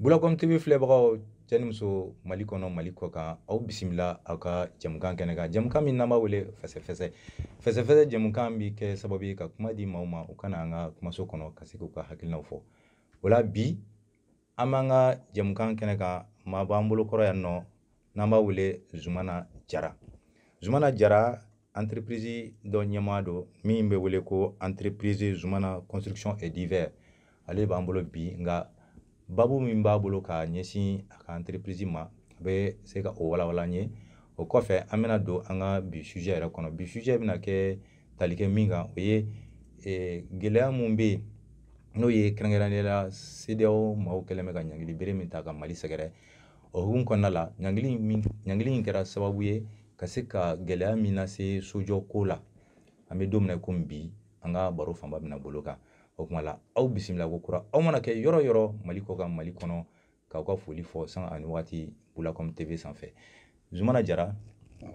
bulakɔm tv filɛbagaw cɛ ni muso mali kɔnɔ mali kɔ kan aw bisimila aw ka jɛmukan kɛnɛ kan jɛmukan min n'an b'a wele fɛsɛfɛsɛ fɛsɛfɛsɛ jɛmukan bi kɛ sababu ye ka kuma di maaw ma u ka na an ka kumaso kɔnɔ ka se k'u ka hakilinaw fɔ o la bi an b'an ka jɛmukan kɛnɛ kan maa b'an bolo kɔrɔ yan nɔ n'an b'a wele zumana jara zumana jara entreprise dɔ ɲɛmaa don min bɛ wele ko entreprise zumana construction et divers ale b'an bolo bi nka babu min b'a bolo ka ɲɛsin a ka entreprise ma a bɛ se ka o walawala an ye o kɔfɛ an bɛna don an ka bi sujet yɛrɛ kɔnɔ bi sujet bɛna kɛ tali kɛ min kan o ye eh, gɛlɛya min bɛ yen n'o ye kɛrɛnkɛrɛnnenya la CEDEAO maaw kɛlen bɛ ka ɲangili bere min ta ka Mali sɛgɛrɛ o hukumu kɔnɔna la ɲangili in min ɲangili in kɛra sababu ye ka se ka gɛlɛya min lase sojɔ ko la an bɛ don min na komi bi an ka baro fanba bɛna bol'o kan o kuma la aw bisimila ko kura aw mana kɛ yɔrɔ yɔrɔ mali kɔ kan mali kɔnɔ k'aw ka foli fɔ sanga ni waati bulakɔm tv sanfɛ zumana jara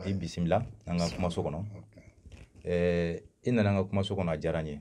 i bisimila an ka kumaso kɔnɔ i nana an ka kumaso kɔnɔ a diyara n ye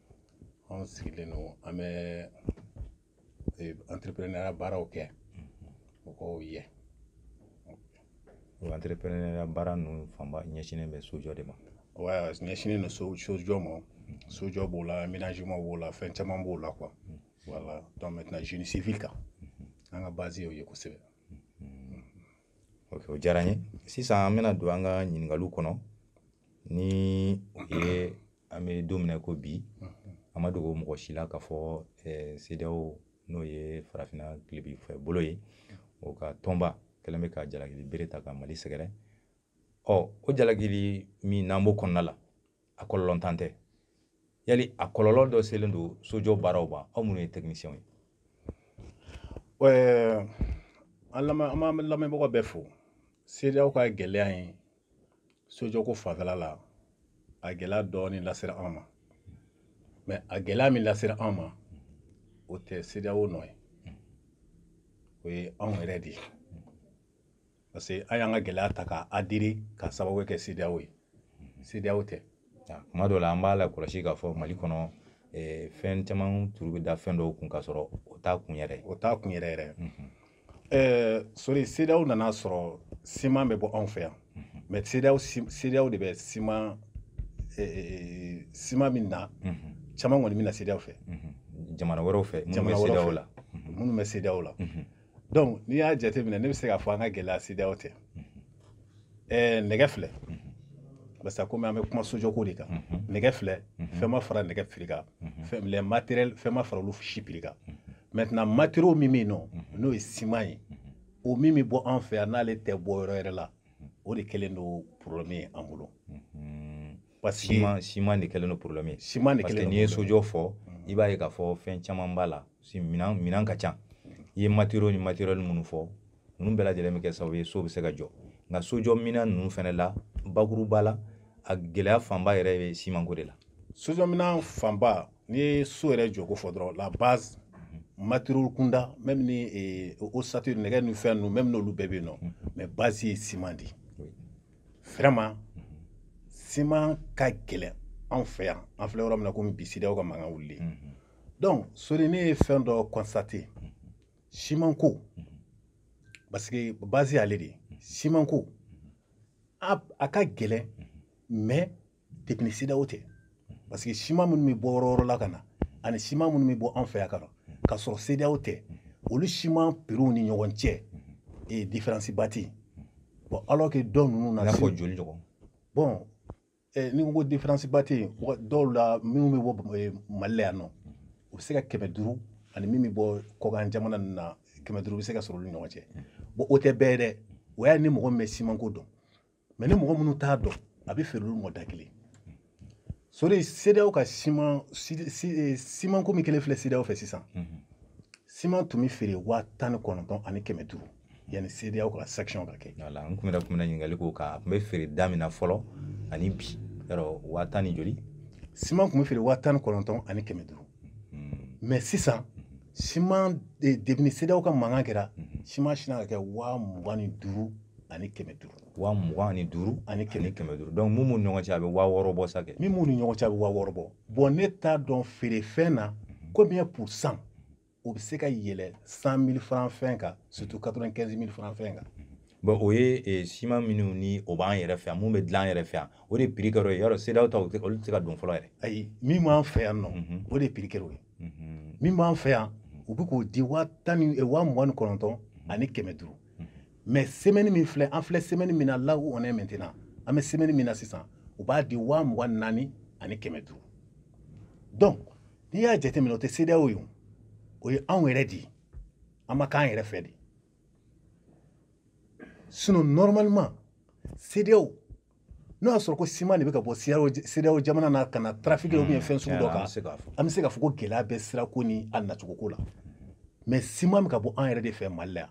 anw sigilen don an bɛ entrepreneuriat baaraw kɛ mɔgɔw ye o entrepreneur baara ninnu fanba ɲɛsinnen bɛ sojɔ de ma wa ɲɛsinnen don so sojɔ ma sojɔ b'o la aménagement b'o la fɛn caman b'o la quoi voilà donc maintenant génie civil kan an ka base y'o ye kosɛbɛ ok o diyara n ye sisan an bɛna don an ka ɲininkaliw kɔnɔ ni o ye an bɛ don min na ko bi a ma dogo mɔgɔ si la k'a fɔ CEDEAO n'o ye farafinna tilebin fɛ bolo ye o ka tɔnba kɛlen bɛ ka jalakili bere ta ka mali sɛgɛrɛ ɔ o jalakili min n'an b'o kɔnɔna la a kɔlɔlɔntan tɛ yali a kɔlɔlɔ dɔ selen don sojɔ baaraw ma aw minnu ye technicienw ye an lamɛnbagaw bɛɛ fo CEDEAO ka gɛlɛya ye sojɔko fanfɛla la a gɛlɛya dɔɔnin lasera an ma mais a gɛlɛya min lasera an ma o tɛ CEDEAO nɔ ye o ye anw yɛrɛ de ye parce que an y'an ka gɛlɛya ta k'a adiri ka sababu kɛ CEDEAO ye CEDEAO tɛ kuma dɔw la an b'a la kɔlɔsi k'a fɔ mali kɔnɔ eh, fɛn caman turu bɛ da fɛn dɔw kun k'a sɔrɔ o t'a kun yɛrɛ o t'a kun yɛrɛ yɛrɛ mhm. eh, sori CEDEAO nana sɔrɔ siman bɛ bɔ anw fɛ yan mhm. mais CEDEAO CEDEAO de bɛ siman eh, siman min na mhm. caman kɔni bɛ na CEDEAO fɛ jamana wɛrɛw fɛ jamana wɛrɛw la minnu bɛ CEDEAO la donc n'i y'a jateminɛ ne bɛ se k'a fɔ an ka gɛlɛya CEDEAO tɛ ɛɛ nɛgɛ filɛ parce que komi an bɛ kuma sojɔko de kan nɛgɛ filɛ fɛn ma fara nɛgɛ piri kan fɛn les matériels fɛn ma fara olu si piri kan maintenant matériaux min bɛ yen nɔ n'o ye siman ye o min bɛ bɔ an fɛ yan n'ale tɛ bɔ yɔrɔ wɛrɛ la o de kɛlen don problème ye an bolo parce que siman siman de kɛlen don problème ye siman de kɛlen don parce que n'i ye sojɔ fɔ mm. i b'a ye k'a fɔ fɛn caman b'a la si minan minan ka ca i ye matériaux ni matériel minnu fɔ ninnu bɛɛ lajɛlen bɛ kɛ sababu ye so bɛ se ka jɔ nka sojɔ minan ninnu fana la bakuruba la a gɛlɛya fanba yɛrɛ bɛ simanko de la sojɔ minan fanba n'i ye so yɛrɛ jɔko fɔ dɔrɔn la base mm-hmm. matériaux kunda même ni eh, ossature nɛgɛ ni fɛn ninnu même n'olu bɛɛ bɛ yen nɔ mm-hmm. mais base ye siman de ye vraiment siman ka gɛlɛn anw fɛ yan an filɛ yɔrɔ min na komi bi CEDEAO ka mankan wulilen mhm. donc sori ne ye fɛn dɔ constater mhm. simanko mhm. parce que base y'ale de ye simanko a ka gɛlɛn mais depuis CEDEAO tɛ parce que siman minnu bɛ bɔ yɔrɔ wɛrɛ la ka na ani siman minnu bɛ bɔ an fɛ yan ka na k'a sɔrɔ CEDEAO tɛ olu siman piriw ni ɲɔgɔn cɛ ee diferansi ba tɛ yen bɔn alors que dɔw ninnu na. i n'a fɔ joli ɲɔgɔn. bɔn eh, ni ko diferansi ba tɛ yen dɔw la minnu bɛ bɔ eh, mali la yan nɔ u bɛ se ka kɛmɛ duuru ani min bɛ bɔ kɔkan jamana ninnu na kɛmɛ duuru bɛ se ka sɔrɔ olu ni ɲɔgɔn cɛ bɔn o tɛ bɛɛ ye dɛ o y'a ni mɔgɔ min bɛ simanko dɔn mais ni mɔgɔ minnu t'a dɔn a bɛ feere olu ma da kelen sori CEDEAO ka siman eh, siman ko min kɛlen filɛ CEDEAO fɛ sisan siman tun bɛ feere waa tan ni kɔnɔntɔn ani kɛmɛ duuru yanni CEDEAO ka sanction ka kɛ voilà n tun bɛna tun bɛna ɲininkali k'o kan a tun bɛ feere da min na fɔlɔ ani bi yɔrɔ waa tan ni joli siman tun bɛ feere waa tan ni kɔnɔntɔn ani kɛmɛ duuru mm-hmm. mais sisan mm-hmm. siman depuis CEDEAO ka mankan kɛra mm-hmm. siman sinna ka kɛ waa mugan ni duuru ani kɛmɛ duuru waa mugan ani duuru ani kɛmɛ kɛmɛ duuru donc mun b'u ni ɲɔgɔn cɛ a bɛ waa wɔɔrɔ bɔ sa kɛ min b'u ni ɲɔgɔn cɛ a bɛ waa wɔɔrɔ bɔ bɔn ne t'a dɔn feerefɛn na combien pour cent o bɛ se ka yɛlɛ cent mille franc fɛn kan surtout quatre vingt quinze mille franc fɛn kan bon o ye eh, siman minnu ni o b'an yɛrɛ fɛ yan min bɛ dilan an yɛrɛ fɛ yan o de piri kɛr'o ye yɔrɔ CEDEAO ta olu tɛ se ka don fɔlɔ yɛrɛ ayi min b'an fɛ yan nɔ mhm. o de piri kɛr'o ye mhm. min b'an fɛ yan mhm. u bɛ k'o di waa tan ni eh, waa mugan ni kɔnɔntɔn ani kɛmɛ duuru mais semɛni min filɛ an filɛ semɛni min na là où on est maintenant an bɛ semɛni min na sisan u b'a di waa mugan ni naani ani kɛmɛ duuru donc n'i y'a jateminɛ o tɛ CEDEAO ye o ye anw yɛrɛ de ye an ma k'an yɛrɛ fɛ de sinon normalement CEDEAO n'o y'a sɔrɔ ko siman de bɛ ka bɔ CEDEAO jamana na ka na trafic ou bien fɛn sugu dɔ kan an bɛ se k'a fɔ ko gɛlɛya bɛ sirako ni a nacogoko la mais siman bɛ ka bɔ an yɛrɛ de fɛ mali la yan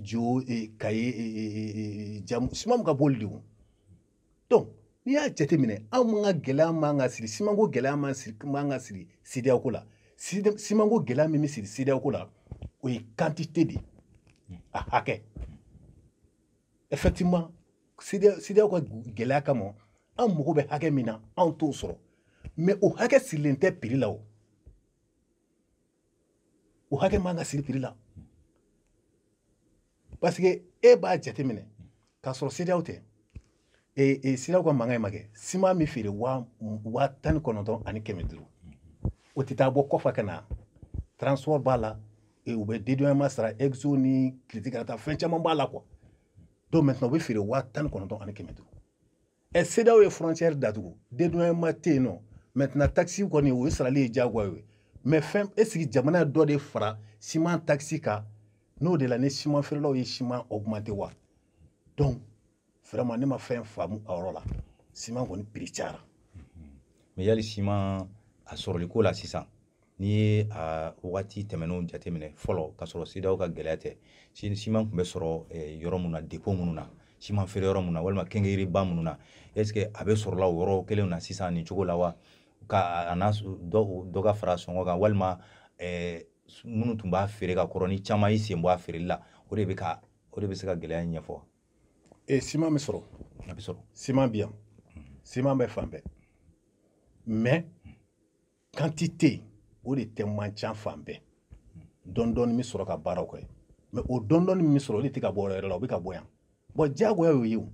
jo kayi jamu siman bɛ ka b'olu de kun donc n'i y'a jateminɛ anw ka gɛlɛya man ka siri simanko gɛlɛya man siri man ka siri CEDEAO ko la simanko gɛlɛya min bɛ siri CEDEAO ko la o ye quantité de ye a hakɛ effectivement CEDEAO ka gɛlɛya kama an mago bɛ hakɛ min na anw t'o sɔrɔ mais o hakɛ sirilen tɛ prix la o o hakɛ man ka siri prix la parce que e b'a jateminɛ k'a sɔrɔ CEDEAO tɛ ee e, CEDEAO ka mankan in ma kɛ siman bɛ feere waa tan ni kɔnɔntɔn ani kɛmɛ duuru o tɛ taa bɔ kɔfɛ ka na transport b'a la e, u bɛ dédouanement sara exo ni kiriti ka taa fɛn caman b'a la quoi donc maintenant u bɛ feere waa tan ni kɔnɔntɔn ani kɛmɛ duuru ɛ CEDEAO ye frontière datugu dédouanement tɛ yen nɔ maintenant taxe kɔni o ye sarali ye diyagoya ye mais fɛn est ce que jamana dɔ de fara siman taxe kan n'o de la ni siman feerelaw ye siman augmenter wa donc vraiment ne ma fɛn faamu a yɔrɔ la siman kɔni prix cayara mais yali siman a sɔrɔli ko la sisan n'i ye a wagati tɛmɛnenw jateminɛ fɔlɔ ka sɔrɔ CEDEAO ka gɛlɛya tɛ siman tun bɛ sɔrɔ eh, yɔrɔ minnu na dépôt minnu na siman feere yɔrɔ minnu na walima quincaillerie ba minnu na est ce que a bɛ sɔrɔla o yɔrɔ kelenw na sisan nin cogo la wa ka a n'a dɔ dɔ ka fara sɔngɔ kan walima eh, minnu tun b'a feere ka kɔrɔ ni caman y'i sen bɔ a feereli la o de bɛ ka o de bɛ se ka gɛlɛya in ɲɛfɔ e eh, siman bɛ sɔrɔ a bɛ sɔrɔ siman bɛ yan siman bɛ fan bɛɛ mais quantité o de tɛ man ca fan bɛɛ dɔndɔni bɛ sɔrɔ ka baaraw kɛ mais o dɔndɔni min sɔrɔ o de tɛ ka bɔ yɔrɔ la o bɛ ka bɔ yan bon diyagoya y'o ye o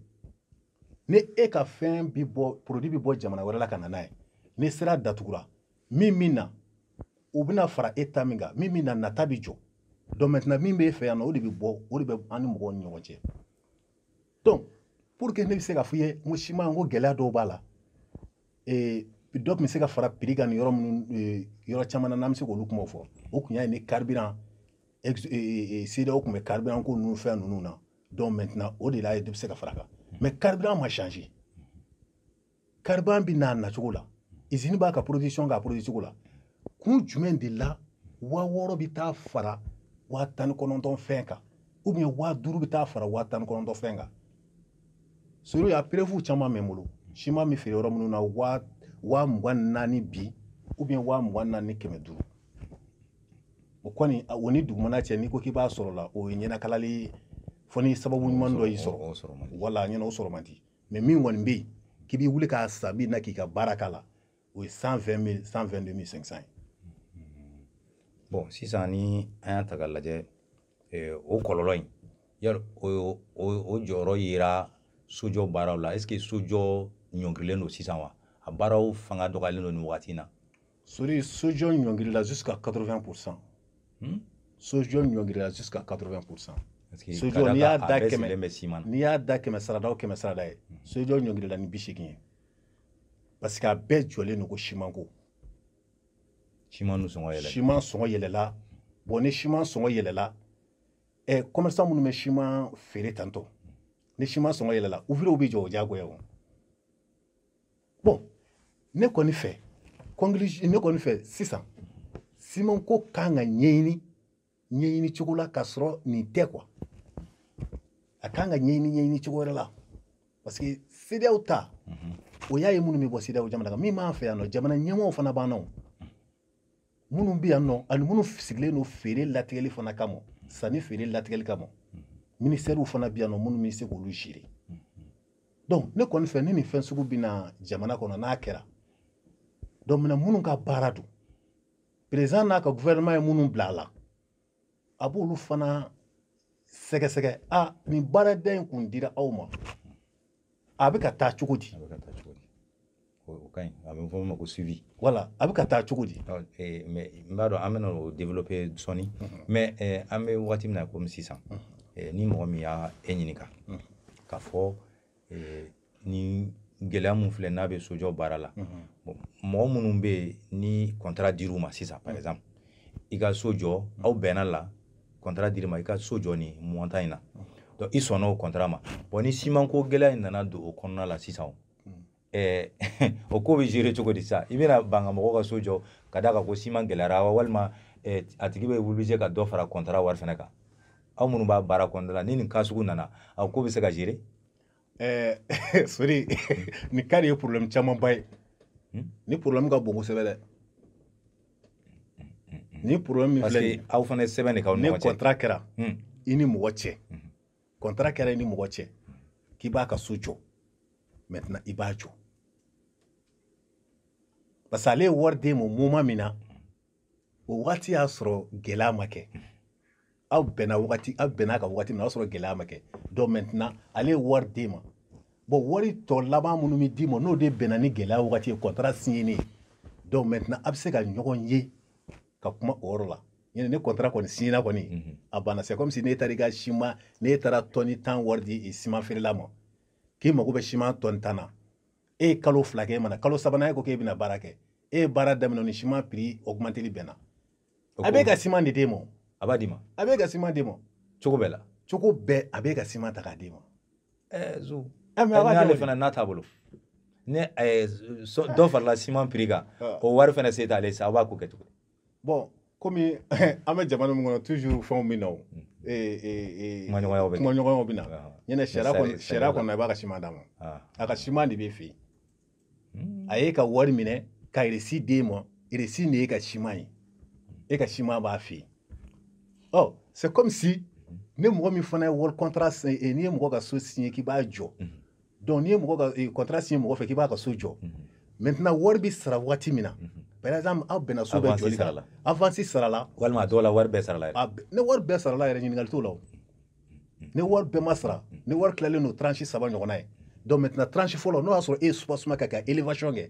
ni e ka fɛn bɛ bɔ produit bɛ bɔ jamana wɛrɛ la ka na n'a ye ni sira datugura min min na o bɛna fara e ta min kan min min na nata bɛ jɔ donc maintenant min bɛ e fɛ yan nɔ o de bɛ bɔ o de bɛ an ni mɔgɔw ni ɲɔgɔn cɛ donc pour que ne bɛ se ka f'i ye n ko simanko gɛlɛya dɔw b'a la ee dɔ tun bɛ se ka fara prix kan nin yɔrɔ minnu yɔrɔ caman na n'an bɛ se k'olu kumaw fɔ o kun y'a ye ni carburant CEDEAO tun bɛ carburant ko ninnu fɛn ninnu na donc maintenant o de la ye dɔ bɛ se ka fara a kan mais carburant ma changer carburant bɛ n'a nacogo la izini b'a ka production k'a produit cogo la kun jumɛn de la waa wɔɔrɔ bɛ taa fara waa tan ni kɔnɔntɔn fɛn kan ou bien waa duuru bɛ taa fara waa tan ni kɔnɔntɔn fɛn kan sori a preuve caman bɛ n bolo siman bɛ feere yɔrɔ minnu na waa waa mugan ni naani bi ou bien waa mugan ni naani ni kɛmɛ duuru o kɔni a- o ni dugumana cɛ n'i ko k'i b'a sɔrɔ la o ye ɲɛnakalali ye fo ni sababu ɲuman dɔ y'i sɔrɔ o sɔrɔ man di. wala ɲɛna o sɔrɔ man di mais min kɔni bɛ yen k'i b'i wuli k'a san min na k'i ka baara k'a la o ye 120 122500 ye bon sisan ni an y'a ta k'a lajɛ eh, o kɔlɔlɔ in yali o o jɔyɔrɔ yera sojɔ baaraw la est ce que sojɔ ɲɔngirilen don sisan wa a baaraw fanga dɔgɔyalen don nin wagati in na sori sojɔ ɲɔngirila jusqu'à 80 pourcent hmm? sojɔ ɲɔngiri la jusqu'à 80 pourcent sojɔ n'i y'a da kɛmɛ n'i y'a da kɛmɛ sarada o kɛmɛ sarada ye hmm. sojɔ ɲɔngirila ni bi seegin ye parce que a bɛɛ jɔlen don ko simanko siman sɔngɔ yɛlɛla siman sɔngɔ yɛlɛla bon ni siman sɔngɔ yɛlɛla ɛ kɔmɛrisan minnu bɛ siman feere tantɔ ni siman sɔngɔ yɛlɛla ouvrier bɛ jɔ o diyagoya o bon ne kɔni fɛ ne kɔni fɛ sisan siman ko kan ka ɲɛɲini ɲɛɲini cogo la k'a sɔrɔ nin tɛ quoi a kan ka ɲɛɲini ɲɛɲini cogo wɛrɛ la parce que CEDEAO ta o y'a ye minnu bɛ bɔ CEDEAO jamana kan min b'an fɛ yan nɔ jamana ɲɛmɔgɔw fana b'an na o minnu bɛ yan nɔ ani minnu sigilen don feere latigɛli fana kama sanni feere latigɛli kama minisitɛriw fana bɛ yan nɔ minnu bɛ se k'olu gérer donc ne kɔni fɛ ni nin fɛn sugu bɛ na jamana kɔnɔ n'a kɛra donc minɛ minnu ka baara don président n'a ka gouvernement ye minnu bila a la a b'olu fana sɛgɛsɛgɛ a nin baarada in kun dira aw ma a bɛ ka taa cogo di a bɛ ka taa cogo di o ka ɲi a bɛ fɔ o ma ko suivi voilà a bɛ ka taa cogo di eh, mais n b'a dɔn an bɛna o développer sɔɔni mhm. mais eh, an bɛ wagati min na komi sisan mhm. eh, ni mɔgɔ min y'a e ɲininka mhm. k'a fɔ ni gɛlɛya min filɛ n'a bɛ sojɔ baara la mɔgɔ minnu bɛ yen ni contrat dir'u ma sisan par exemple i ka so jɔ aw bɛnna la contrat dir'i ma i ka so jɔ nin montant in na donc i sɔnna o contrat ma bon ni simanko gɛlɛya in nana don o kɔnɔna la sisan ɛɛ o ko bɛ gérer cogo di sisan i bɛna ban ka mɔgɔw ka so jɔ ka d'a kan ko siman gɛlɛyara wa walima a tigi bɛ obligé ka dɔ fara contrat wari fana kan aw minnu b'a baara kɔnɔna la ni nin cas sugu nana a ko bɛ se ka gérer ɛɛ eh, sori nin cas de ye problème camanba ye hmm? nin problème ka bon kosɛbɛ dɛ nin problème min filɛ nin aw fana ye sɛbɛn de k'aw ni ɲɔgɔn cɛ ni contrat kɛra hmm. i ni mɔgɔ cɛ hmm. contrat kɛra i ni mɔgɔ cɛ k'i b'a ka so jɔ maintenant i b'a jɔ parce que ale ye wari d'e ma moment min na o wagati y'a sɔrɔ gɛlɛya ma kɛ aw bɛnna wagati aw bɛnna ka wagati min na o y'a sɔrɔ gɛlɛya ma kɛ donc maintenant ale ye wari d'e ma bon wari tɔ laban minnu bɛ d'i ma n'o de bɛnna ni gɛlɛya wagati ye contrat signeni ye donc maintenant a bɛ se ka ɲɔgɔn ye ka kuma o yɔrɔ la ɲinɛ ni contrat kɔni signena kɔni mhm. a banna c'est comme si n'e taara i ka siman n'e taara tɔni tan wari di siman feerela ma k'i mago bɛ siman tɔni tan na e ye kalo fila kɛ e ma na kalo sabanan e ko k'e bɛna baara kɛ e ye baara daminɛ ni siman prix augmenteli bɛnna a b'e ka siman de d'e ma a b'a d'i ma a b'e ka siman d'e ma cogo bɛɛ la cogo bɛɛ a b'e ka siman ta k'a d'e ma ɛɛ eh, zo eh, n'ale fana n'a t'a bolo ni eh, dɔ farala siman prix kan o wari fana se t'ale sa a b'a ko kɛ cogo di bon komi an bɛ jamana min kɔnɔ toujours fɛnw bɛ na o kumaɲɔgɔnyaw bɛ na kumaɲɔgɔnyaw bɛ na ɲinɛ sariya kɔnɔ sariya kɔnɔ a b'a ka siman d'a ma a ka siman de b'e fɛ yen a y'e ka wari minɛ ka reçu d'e ma reçu de y'e ka siman ye e ka siman b'a fɛ yen ɔ c'est comme si ni mɔgɔ min fana ye wari contrat signé n'i ye mɔgɔ ka so signé k'i b'a jɔ donc n'i ye mɔgɔ ka contrat eh, signé mɔgɔ fɛ k'i b'a ka so jɔ mhm. maintenant wari bɛ sara waati min na mhm. par exemple aw bɛnna so bɛɛ jɔli kan avance sarala walima a dɔw la wari bɛɛ sarala yɛrɛ ni wari bɛɛ sarala yɛrɛ ɲininkali t'o la o ni wari bɛɛ ma sara ni wari tilalen don tranche saba ɲɔgɔnna ye donc maintenant tranche fɔlɔ n'o y'a sɔrɔ e ye soubassement kɛ ka élévation kɛ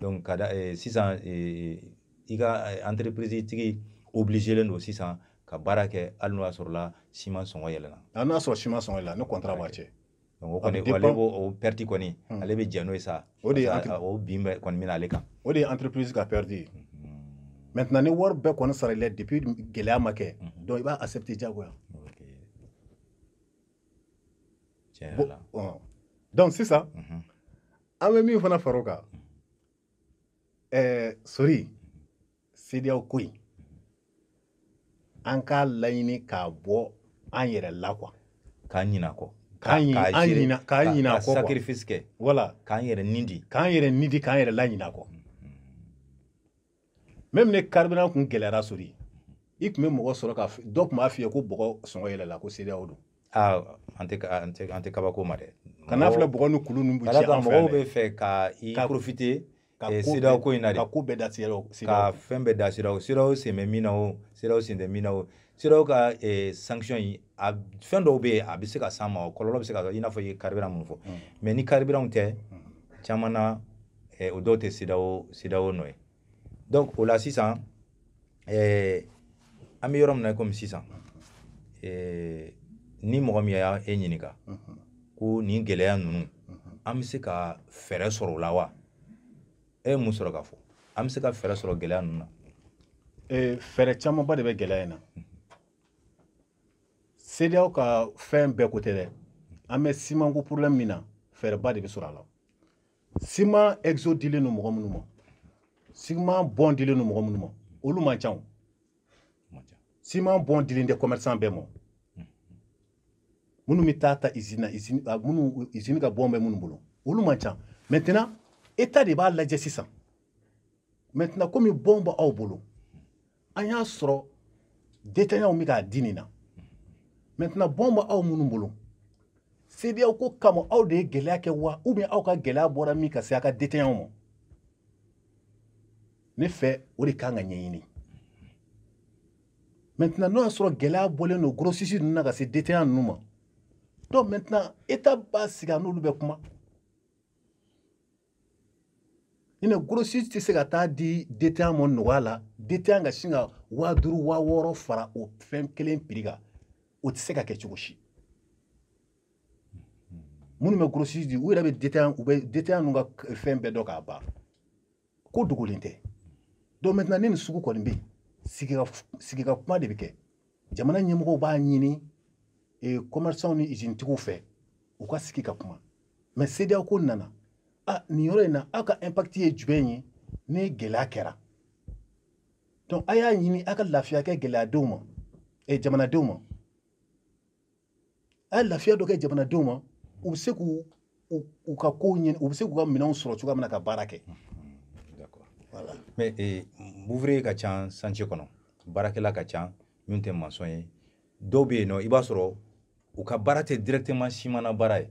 donc ka da eh, sisan eh, i ka eh, entreprise tigi obligelen don sisan ka baara kɛ hali n'o y'a sɔrɔla siman sɔngɔ yɛlɛnna hali ah, n'o y'a sɔrɔ siman sɔngɔ yɛlɛnna ni contrat b'a cɛ donc o kɔni ale b'o perte kɔni hmm. ale bɛ jɛn n'o ye sa o de o bin bɛ kɔni bɛ na ale kan o de ye entreprise ka perte ye hmm. maintenant ni wari bɛɛ kɔni sarali la depuis gɛlɛya ma kɛ hmm. donc i b'a accepter diyagoya tiɲɛ yɛrɛ la donc sisan an bɛ min fana fara o kan ɛɛ sori CEDEAO ko in an k'a laɲini k'a bɔ an yɛrɛ la quoi k'an ɲinɛ a kɔ k'an ɲinɛ k'an ɲinɛ a kɔ quoi sacrifice kɛ voilà k'an yɛrɛ ni di k'an yɛrɛ ni di k'an yɛrɛ laɲinɛ a kɔ même ni carburant kun gɛlɛyara sori i tun bɛ mɔgɔ sɔrɔ ka dɔ tun b'a f'i ye ko bɔgɔ sɔngɔ yɛlɛla ko CEDEAO don aa an tɛ an tɛ an tɛ kabako ma dɛ kana filɛ bɔgɔ ni kulu ninnu bɛ ci an fɛ mɔgɔw bɛ fɛ ka i profiter eh, CEDEAO ko in na de ka ko bɛɛ da CEDEAO ka fɛn bɛɛ da CEDEAO CEDEAO sen bɛ min na o CEDEAO sen tɛ min na o CEDEAO ka eh, sanction in a fɛn dɔw bɛ yen a bɛ se ka s'an ma o kɔlɔlɔ bɛ se ka i n'a fɔ i ye carburant min fɔ mais mm. ni carburant tɛ mm. caman na eh, o dɔw tɛ CEDEAO CEDEAO nɔ ye donc o la sisan eh, an bɛ yɔrɔ min na i komi sisan eh, ni mɔgɔ min ye e ɲininka mhm. ko nin gɛlɛya ninnu mhm. an bɛ se ka fɛɛrɛ sɔrɔ o la wa e ye mun sɔrɔ ka fɔ an bɛ se ka fɛɛrɛ sɔrɔ gɛlɛya ninnu na eh, fɛɛrɛ camanba de bɛ gɛlɛya in na mhm. CEDEAO ka fɛn bɛɛ ko tɛ dɛ an bɛ simanko problème min na fɛɛrɛba de bɛ sɔrɔ a la siman exo dilen don mɔgɔ minnu ma siman bɔn dilen don mɔgɔ minnu ma olu man ca o siman bɔn dilen tɛ commerçant bɛɛ ma minnu bɛ taa ta usine na usine minnu usine ka bɔn bɛ minnu bolo olu man ca maintenant état de b'a lajɛ sisan maintenant komi bɔn b'aw bolo an y'a sɔrɔ détaillantw bɛ k'a di nin na maintenant bɔn bɛ aw minnu bolo CEDEAO ko kama aw de ye gɛlɛya kɛ wa ou bien aw ka gɛlɛya bɔra min ka se a ka détaillantw ma ne fɛ o de kan ka ɲɛɲini maintenant n'o y'a sɔrɔ gɛlɛya bɔlen don grossiste ninnu na ka se détaillant ninnu ma donc maintenant état b'a sigi a n'olu bɛ kuma ɲinɛ grossiste tɛ se ka t'a di détaillant ma nɔgɔya la détaillant ka sin ka waa duuru waa wɔɔrɔ fara o fɛn kelen prix kan o tɛ se ka kɛ cogo si minnu bɛ gros di u yɛrɛ bɛ détaillant u bɛ détaillant ninnu ka fɛn bɛɛ dɔn k'a ban ko dogolen tɛ donc maintenant ni nin sugu kɔni bɛ yen sigi ka sigi ka kuma de bɛ kɛ jamana ɲɛmɔgɔw b'a ɲini commerçant ni usine tigiw fɛ u ka sigi ka kuma mais CEDEAO ko nana nin yɔrɔ in na aw ka impact ye jumɛn ye ni gɛlɛya kɛra donc a y'a ɲini aw ka lafiya kɛ gɛlɛyadenw ma eh, jamanadenw ma a ye lafiya dɔ kɛ jamanadenw ma u bɛ se k'u u ka kow ɲini u bɛ se k'u ka minɛnw sɔrɔ cogoya min na ka baara kɛ voilà. mais eh, ouvrier ka ca chantier kɔnɔ baarakɛla ka ca min tɛ maçon ye dɔw bɛ yen nɔ i b'a sɔrɔ u ka baara tɛ directement siman na baara ye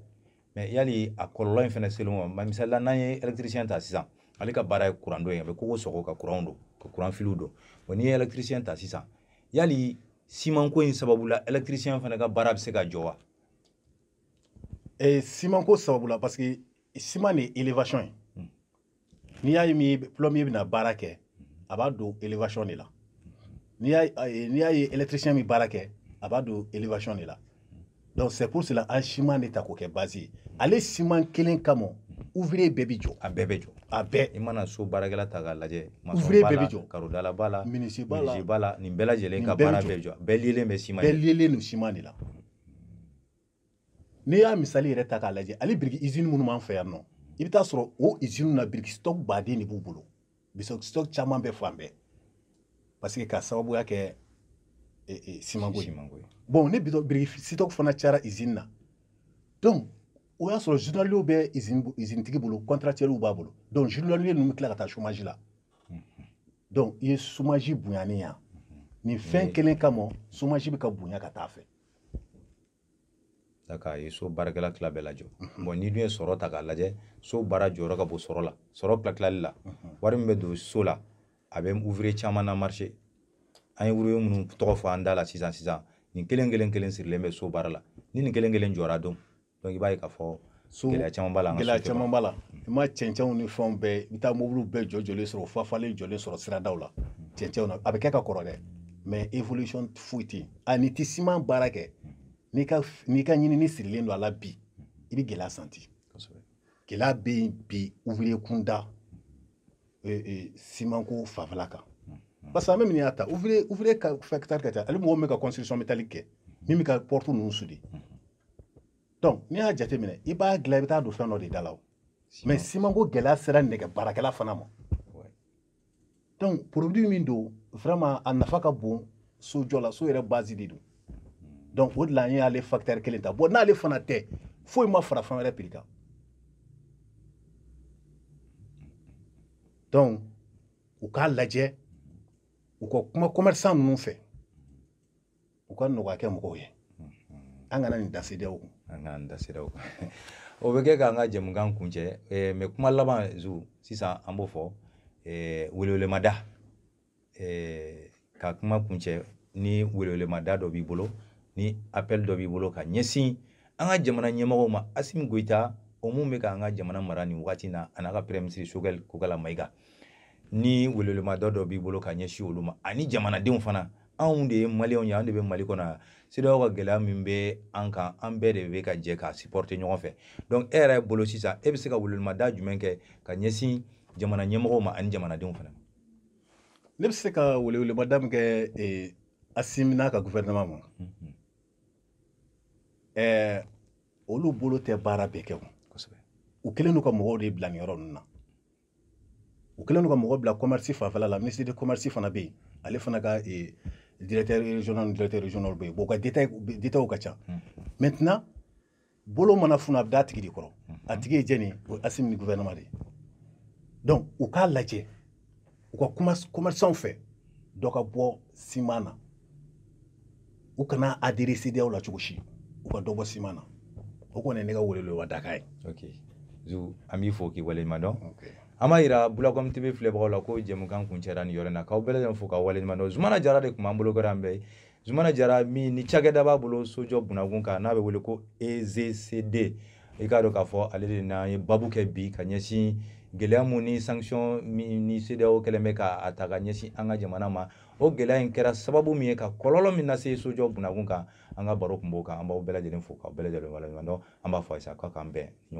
mais yali a kɔlɔlɔ in fana selen u ma misali la n'an ye électricien ta sisan ale ka baara ye kuran don ye a bɛ kogo sɔgɔ ka kuranw don ka kuran filiw don bon n'i ye électricien ta sisan yali simanko in sababu la électricien fana ka baara bɛ se ka jɔ wa eh, simanko sababu la parce que siman de ye élévation ye hmm. n'i y'a ye min plombier bɛna baara kɛ a b'a don élévation de la n'i y'a ye électricien bɛ baara kɛ a b'a don élévation de la donc c'est pour cela an siman de ta k'o kɛ base ye ale siman kelen kama ouvrier bɛɛ bɛ jɔ a bɛɛ bɛ jɔ a bɛɛ i mana so baarakɛla ta k'a lajɛ ouvrier bɛɛ bɛ jɔ karodala b'a la menuisier b'a la nin bɛɛ lajɛlen ka baara bɛɛ jɔ bɛɛ lielen bɛ siman bɛɛ lielen don siman de la n'i y'a misali yɛrɛ ta k'a lajɛ ale biriki izini minnu b'an fɛ yan nɔ i bɛ taa sɔrɔ o izini na biriki stock baden de b'u bolo biriki stock caman bɛ fan bɛɛ parce que ka sababuya kɛ e, e, simanko ye bon ni biriki stock fana cayara izini na donc o y'a sɔrɔ journaliers bɛ izini tigi bolo contractuels b'a bolo donc journaliers ninnu bɛ tila ka taa chômage la mhm. donc i ye chômage bonyani yan nin fɛn kelen kama chômage bɛ ka bonya ka taa fɛ ka ye so baarakɛla tila bɛɛ lajɔ bon n'i dun ye sɔrɔ ta k'a lajɛ so baara jɔyɔrɔ ka bon sɔrɔ la sɔrɔ tilatilali la wari min bɛ don so la a bɛ ouvrier caman na marché an ye ouvrier minnu tɔgɔ fɔ an da la sisan sisan nin kelen kelen kelen sirilen bɛ so baara la ni nin kelen kelen jɔra don donc i b'a ye k'a fɔ so gɛlɛya caman b'a la gɛlɛya caman b'a la i ma cɛncɛnw ni fɛnw bɛɛ i bɛ taa mobiliw bɛɛ jɔ jɔlen sɔrɔ fafalen jɔlen sɔrɔ siradaw la cɛncɛnw na a bɛ kɛ ka kɔrɔ dɛ mais évolution foyi tɛ yen a n'i tɛ siman baara kɛ n'i ka n'i ka ɲinini sirilen don a la bi i bɛ gɛlɛya santi gɛlɛya bɛ yen bi ouvrier kunda simanko fanfɛla kan parce que an bɛ min y'a ta ouvrier ouvrier ka facteur ka ca ale mɔgɔ min bɛ ka construction métallique kɛ min bɛ ka porte ninnu soudé donc n'i y'a jateminɛ i b'a dilan i bɛ taa don fɛn dɔ de da la o mais simanko gɛlɛya sera nɛgɛ baarakɛla fana ma donc produit min don vraiment a nafa ka bon sojɔ la so yɛrɛ base de don donc o de la an y'ale facteur kelen ta bon n'ale fana tɛ foyi ma fara fɛn wɛrɛ prix kan donc u k'a lajɛ u ka kuma commerçant ninnu fɛ u ka nɔgɔya kɛ mɔgɔw ye an kana nin da CEDEAO kun an kana nin da CEDEAO kun o bɛ kɛ k'an ka jɛmukan kuncɛ eh, mais kuma laban zu sisan an b'o fɔ eh, welewelemada eh, ka kuma kuncɛ ni welewelemada dɔ b'i bolo ni appel dɔ b'i bolo ka ɲɛsin an ka jamana ɲɛmɔgɔw ma asimi goyita o min bɛ k'an ka jamana mara nin wagati na a n'a ka premier ministre sogɛl kokala mayiga ni welewelemada dɔ b'i bolo ka ɲɛsin olu ma ani jamanadenw fana anw de ye maliyɛnw ye an de bɛ mali kɔnɔ yan CEDEAO ka gɛlɛya min bɛ an kan an bɛɛ de bɛ ka jɛ k'a supporter ɲɔgɔn fɛ donc e yɛrɛ bolo sisan e bɛ se ka welewelemada jumɛn kɛ ka ɲɛsin jamana ɲɛmɔgɔw ma ani jamanadenw fana ma ne bɛ se ka welewelemada min kɛ eh, asimi n'a ka gouvernement ma mhm. eh, olu bolo tɛ baara bɛɛ kɛ o u kɛlen don ka mɔgɔw de bila nin yɔrɔ ninnu na u kɛlen don ka mɔgɔ bila commerce fanfɛla la ministre de commerce fana bɛ yen ale fana ka eh, directeur régional ni directeur régional bɛ yen bon u ka détails ka ca maintenant bolo mana funu a bɛ d'a tigi de kɔrɔ a tigi ye jɛni ye o ye asimi ni gouvernement de ye donc u k'a lajɛ u ka commerçants fɛ dɔ ka bɔ ciment na u kana adhérer CEDEAO la cogo si u ka dɔ bɔ ciment na o kɔni ne ka welewele dakan ye okay. zu an b'i fo k'i waleɲuman dɔn okay. an b'a yira bulakɔm tv filɛbagaw la ko jɛmukan kuncɛra nin yɔrɔ na k'aw bɛɛ lajɛlen fo k'aw waleɲuman dɔn zumana jara de tun b'an bolo kɔrɔ an bɛɛ ye zumana jara min ni cakɛda b'a bolo sojɔ bunda kunkan n'a bɛ wele ko ezcd i k'a dɔn k'a fɔ ale de n'an ye babu kɛ bi ka ɲɛsin gɛlɛya mun ni sanction min ni CEDEAO kɛlen bɛ k'a ta ka ɲɛsin an ka jamana ma o gɛlɛya in kɛra sababu min ye ka kɔlɔlɔ min lase sojɔ bunda kunkan an ka baro tun b'o kan an b'aw bɛɛ lajɛlen fo k'aw bɛɛ lajɛlen waleɲuman dɔn an b'a fɔ aw ye sa k'a k'an bɛn ɲɔgɔn